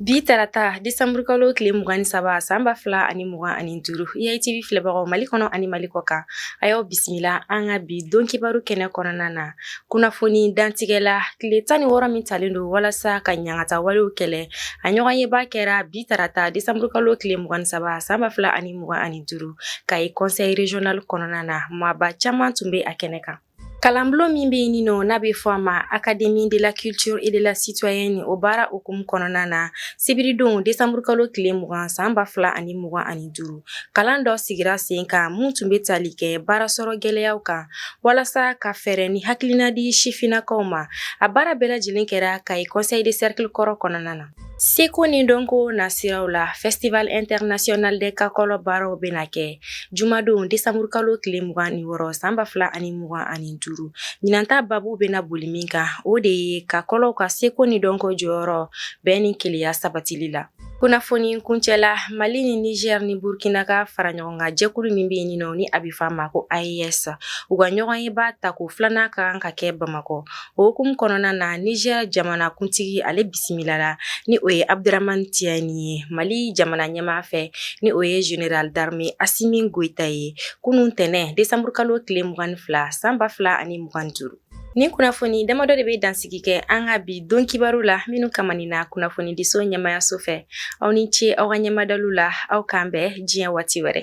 Bi tarata desanburukalo tile mugan ni saba san ba fila ani mugan ani duuru IATV filɛbagaw mali kɔnɔ ani mali kɔ kan a y'aw bisimila an ka bi don kibaru kɛnɛ kɔnɔna na kunnafoni dantigɛ la tile tan ni wɔɔrɔ min talen don walasa ka ɲagata walew kɛlɛ a ɲɔgɔnyeba kɛra bi tarata desanburukalo tile mugan ni saba san ba fila ani mugan ani duuru kayi conseil régional kɔnɔna na maaba caman tun bɛ a kɛnɛ kan Kalanbulon min bɛ yen nin nɔ n'a bɛ fɔ a ma académie de la culture et de la citoyenne o baara hukumu kɔnɔna na sibiridon desanburukalo tile mugan san ba fila ani mugan ani duuru kalan dɔ sigira sen kan min tun bɛ tali kɛ baarasɔrɔ gɛlɛyaw kan walasa ka fɛɛrɛ ni hakilina di sifinnakaw ma a baara bɛɛ lajɛlen kɛra Kayi conseil de cercle kɔrɔ kɔnɔna na. Seko ni dɔnko nasiraw la festival international de kakɔlɔ baaraw bɛna kɛ jumadon desanburukalo tile mugan ni wɔɔrɔ san ba fila ani mugan ani duuru ɲinan ta babu bɛna boli min kan o de ye kakɔlɔw ka seko ni dɔnko jɔyɔrɔ bɛn ni kelenya sabatili la kunnafoni kuncɛla mali ni niger ni burkina ka faraɲɔgɔnkan jɛkulu min bɛ yen nin nɔ ni a bɛ fɔ a ma ko aes u ka ɲɔgɔnyeba tako filanan ka kan ka kɛ bamakɔ O hukumu kɔnɔna na Niger jamanakuntigi ale bisimilala ni o ye Abdaramani Tiyani ye Mali jamana ɲɛmaa fɛ ni o ye Général d'armée Asimi Goyita ye kunun tɛnɛn desanburukalo tile mugan ni fila san ba fila ani mugan ni duuru Nin kunnafoni damadɔ de bɛ dansigi kɛ an ka bi don kibaru la minnu kamanina kunnafonidiso ɲɛmayaso fɛ aw ni ce aw ka ɲɛmadaliw la aw k'an bɛn diɲɛ waati wɛrɛ